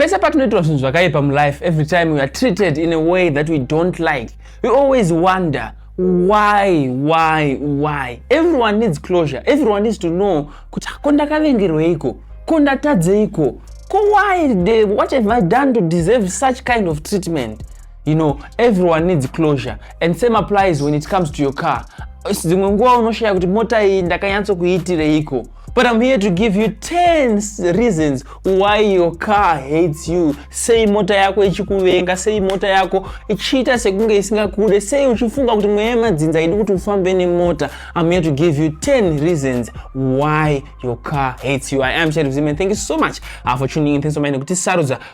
Pese patinoitwa zvinhu zvakaipa mulife, every time we are treated in a way that we don't like, we always wonder why why why everyone needs closure everyone needs to know kuti ko ndakavengerweiko ko ndatadzeiko ko why the, what have i done to deserve such kind of treatment you know everyone needs closure and same applies when it comes to your car dzimwe nguva unoshaya kuti mota iyi ndakanyatso kuiitireiko But I'm here to give you 10 reasons why your car hates you. Sei mota yako ichikuvenga, sei mota yako ichiita sekunge isingakude, sei uchifunga kuti mweya yemadzinza idi kuti ufambe nemota. I'm here to give you 10 reasons why your car hates you. I am Sheriff Zim and thank you so much uh, for tuning in. Thanks so much nekuti sarudza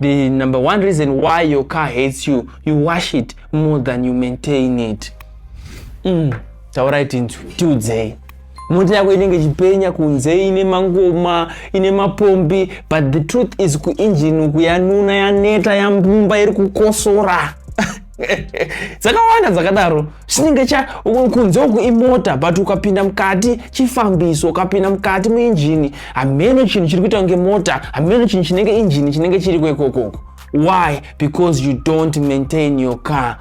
The number one reason why your car hates you, you wash it more than you maintain it. Mm, taurai tinzwi tiudzei mota yako inenge ichipenya kunze ine mangoma ine mapombi but the truth is kuinjini uku yanuna yaneta yambumba iri kukosora dzakawanda dzakadaro chinenge cha kunze uku imota but ukapinda mukati chifambiso ukapinda mukati muinjini hameno chinhu chiri kuita kunge mota hameno chinhu chinenge injini chinenge chiri kwekokoku why because you don't maintain your car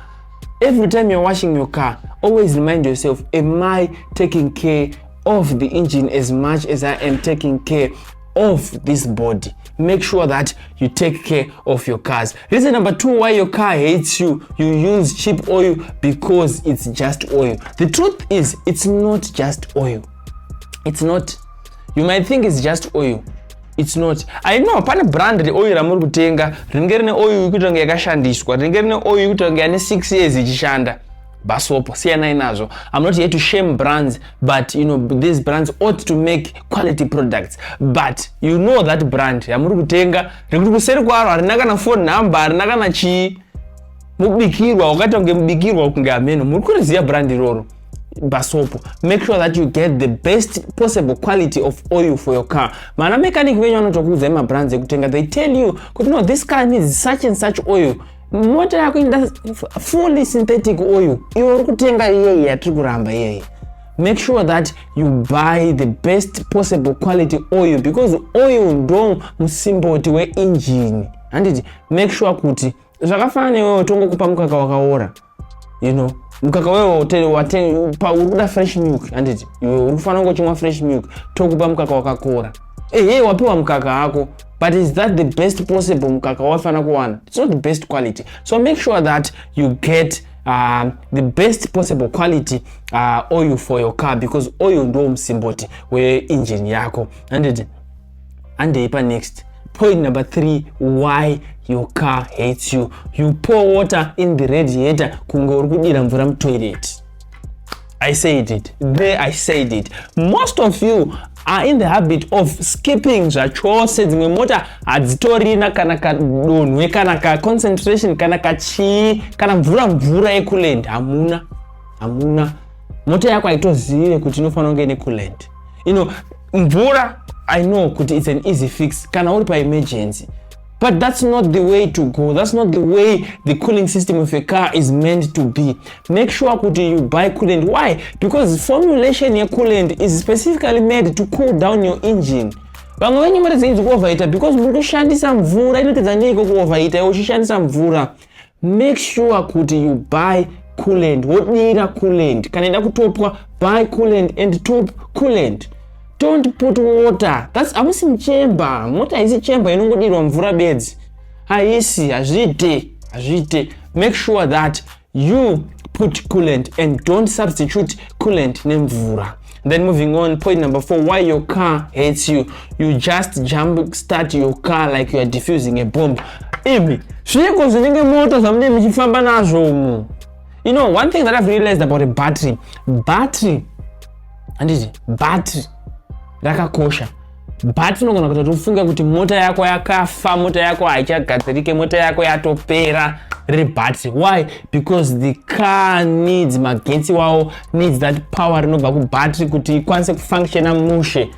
every time you're washing your car always remind yourself am i taking care of the engine as much as i am taking care of this body make sure that you take care of your cars reason number two why your car hates you you use cheap oil because it's just oil the truth is it's not just oil it's not you might think it's just oil it's not i know pane brand reoil ramuri kutenga rinenge rine oil yekuita kunge yakashandiswa rinenge rine oil yekuita kunge yane six years ichishanda basopo siyanai nazvo i'm not here to shame brands but you know these brands ought to make quality products but you know that brand yamuri kutenga rekuti kuseri kwaro harina kana phone number harina kana chii mubikirwa wakaita kunge mubikirwa kunge hameno muri kuriziva brand iroro basopo make sure that you get the best possible quality of oil for your car mana mechanic venyu vanotokuudzai mabrands ekutenga they tell you kuti no this car needs such and such oil mota yako inoda fully synthetic oil iwe uri kutenga iyeye yatiri kuramba iyeye make sure that you buy the best possible quality oil because oil ndo musimboti weinjini handiti make sure kuti zvakafanana newewo tongokupa mukaka wakaora you know mukaka wewe uri kuda fresh milk handiti iwe uri kufanira kungochimwa fresh milk tokupa mukaka wakakora ehe wapiwa mukaka hako but is that the best possible mukaka wafanira kuwana its not the best quality so make sure that you get uh, the best possible quality uh, oil for your car because oil ndo musimboti weinjini yako handiti handei panext point number three why your car hates you you pour water in the radiator kunge uri kudira mvura mutoilet I said it. There I said it. Most of you are in the habit of skipping zvachose dzimwe mota hadzitorina kana kadonhwe kana kaconcentration kana kachii kana mvura mvura yekuland hamuna hamuna mota yako haitozive kuti inofanira kunge ine kuland ino mvura i know kuti its an easy fix kana uri paemergency but that's not the way to go that's not the way the cooling system of a car is meant to be make sure kuti you buy coolant why because formulation yecoolant is specifically made to cool down your engine vamwe venyu mari dzenyu dzikuovaita because muri kushandisa mvura inotidzanyeiko kuovaita iwe uchishandisa mvura make sure kuti you buy coolant wodira coolant kana ida kutopwa buy coolant and top coolant don't put water thats hamusi muchemba mota haisi chemba inongodirwa mvura bedzi haisi hazviite hazviite make sure that you put coolant and don't substitute coolant nemvura then moving on point number four why your car hates you you just jump start your car like you are diffusing a bomb imi zviiko zvinenge moto zvamunee muchifamba nazvo umu you know one thing that i've realized about a battery battery handiti battery rakakosha but unogona kuita kuti ufunge kuti mota yako yakafa mota yako haichagadzirike mota yako yatopera riri but why because the car needs magetsi wawo needs that power rinobva kubattery kuti ikwanise kufunctiona mushe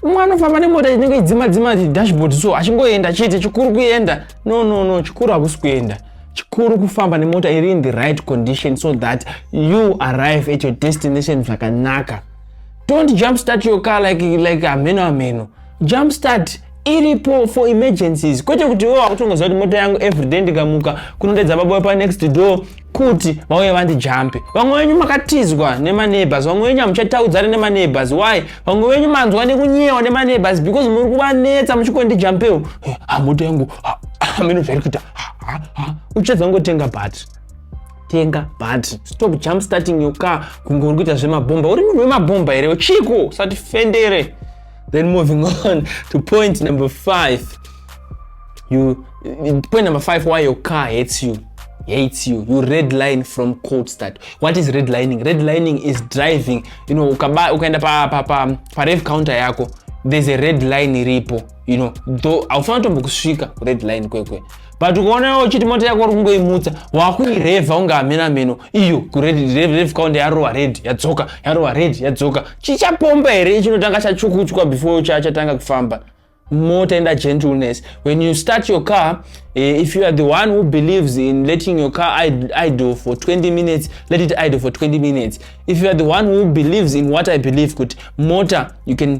umwe anofamba nemota inenge idzima dzima dashboard so achingoenda chete chikuru kuenda no no no chikuru hakusi kuenda chikuru kufamba nemota iri in the right condition so that you arrive at your destination zvakanaka don't jump start your car like, like hameno hameno jump start iripo for emergencies kwete kuti wo wakutongoziva kuti mota yangu everyday ndikamuka kunotedza baba wepa next door kuti vauye vandijampe vamwe venyu makatizwa nemaneighbors vamwe venyu hamuchataudzane nemaneighbors why vamwe venyu manzwa nekunyewa nemaneighbors because muri kuvanetsa muchikondijampewo hamota yangu hameno zvairi kuita uchadza kungotenga battery tenga battery stop jump starting your car kunge uri kuita zvemabhomba uri munhu wemabhomba here chiko usati fendere then moving on to point number five you point number five why your car hates you hates you you red line from cold start what is red lining red lining is driving you know ukaenda pa, pa, pa, pa rev counter yako there's a red line iripo you know though haufanira tombokusvika red line kwekwe but ukaona uchiti mota yako uri kungoimutsa wakuirevha unge hamena meno iyo kurevka unde yarova red yadzoka yarova red yadzoka chichapomba here chinotanga chachukuchwa before chatanga kufamba mota enda gentleness when you start your car eh, if you are the one who believes in letting your car idle for 20 minutes let it idle for 20 minutes if you are the one who believes in what i believe kuti mota you can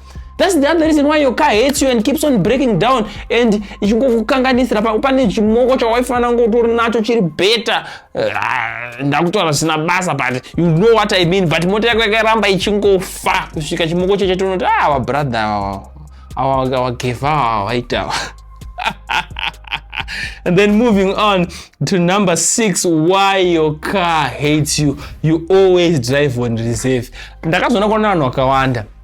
That's the other reason why your car hates you and keeps on breaking down and ichingokukanganisira pane chimoko chawaifanira ngo utori nacho chiri better uh, ndakutaura zvisina basa but you know what i mean but mota yako yakaramba ichingofa kusvika chimoko cheche tonoti ah vabrother awa awa vakeva awa vaitawa and then moving on to number six why your car hates you you always drive on reserve ndakazoona kuona vanhu vakawanda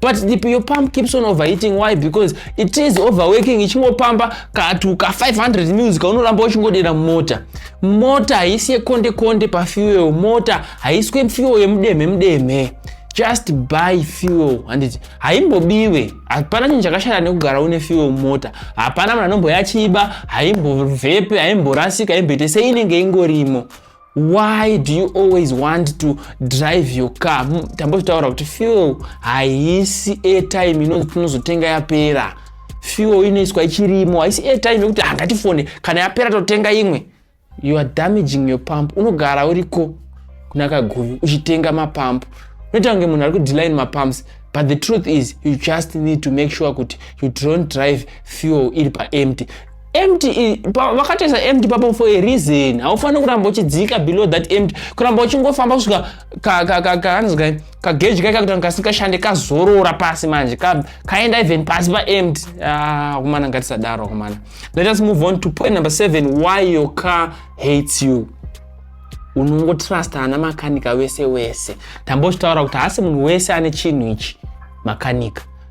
but the piyo pump keeps on overheating why because it is overworking ichingopamba katuka 500 mils kaunoramba uchingodera mota mota haisi yekonde konde pafuel mota haiswe fuel yemudemhe mudemhe just buy fuel handiti haimbobiwe hapana chinhu chakashata nekugara une fuel mota hapana munhu anomboyachiba haimbovhepe haimborasika haimboite seinenge ingorimo why do you always want to drive your car hmm, tambozvitaura kuti fuel haisi airtime inonzi tinozotenga yapera fuel inoiswa ichirimo haisi airtime yekuti hangatifone ah, kana yapera totenga imwe you are damaging your pump unogara uriko kuna kaguvi uchitenga mapump unoita kunge munhu ari kudeline mapumps but the truth is you just need to make sure kuti you don't drive fuel iri paempty empty vakatoisa empty papo for a reason haufaniri kuramba uchidzika below that empty kuramba uchingofamba kusvika kaanzi kai kageji kai kakutanga kasingashande kazorora pasi manje kaenda even pasi paempty ah, akomana ah, ngatisadaro akomana let us move on to point number seven why your car hates you unongotrusta ana makanika wese wese tambochitaura kuti haasi munhu wese ane chinhu ichi makanika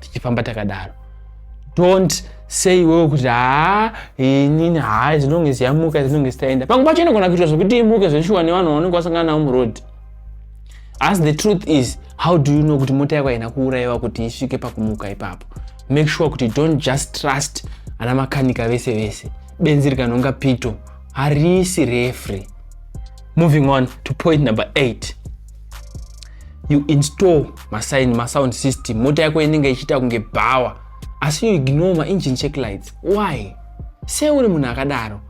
tichifamba takadaro don't sei iwewe kuti haa inini haa zinonge ziyamuka zinonge zitaenda pamwe pacho inogona kuitwa zvekuti imuke zveshuwa nevanhu vaunenge wasangana navo muroad asi the truth is how do you know kuti mota yako haina kuurayiwa kuti isvike pakumuka ipapo make sure kuti don't just trust ana makanika vese vese benzi rikanonga pito harisi refree moving on to point number 8 you install masign masound system mota yako inenge ichiita kunge bhawa asi you ignore maengine check lights why sei uri munhu akadaro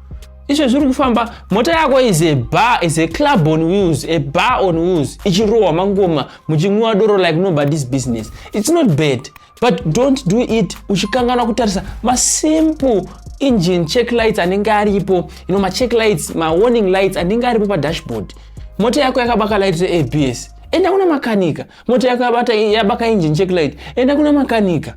izvo zviri kufamba mota yako is a bar is a club on wheels a bar on wheels ichirohwa mangoma muchinwiwa doro like nobody's business it's not bad but don't do it uchikanganwa kutarisa masimple engine check lights anenge aripo you know macheck lights mawarning lights anenge aripo padashboard mota yako yakabaka light reabs enda kuna makanika mota yako yabata yabaka engine check light enda kuna makanika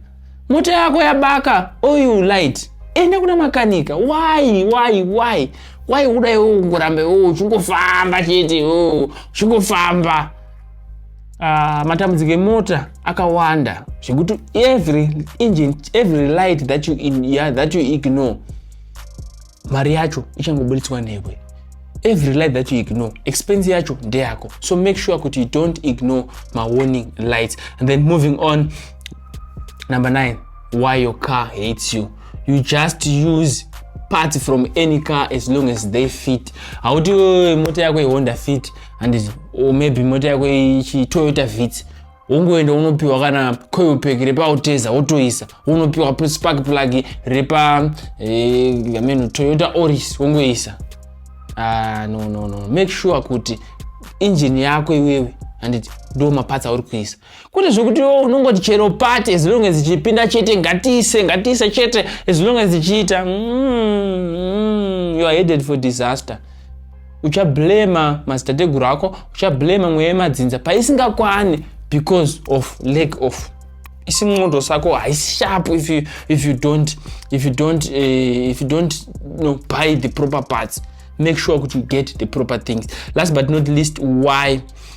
mota yako yabaka oil light enda kuna makanika why why why why uda iwo ungorambe uchingofamba chete uchingofamba uh, matambudziko emota akawanda zvekuti every engine every light that you, in, yeah, that you ignore mari yacho ichangobuditswa newe every light that you ignore expense yacho ndeyako so make sure kuti you don't ignore mawarning lights and then moving on number 9 why your car hates you you just use parts from any car as long as they fit hauti mota yako ihonda fit handiti or maybe mota yako ichi toyota vits wongoenda unopiwa kana coil pack repauteza wotoisa unopiwa spark plug repa eh, ameno toyota oris wongoisa ah, no no no make sure kuti injini yako iwewe handiti ndo maparts auri kuisa kwete zvekuti iwo unongoti chero pati as long as ichipinda chete ngatiise ngatiise chete as long as ichiita mm, mm, you are headed for disaster uchablema madzitateguru ako uchablema mweya yemadzinza paisingakwani because of lack of isi mwondo sako haisi sharp if you, if you don't, if you don't, uh, if you don't you know, buy the proper parts make sure kuti you get the proper things last but not least why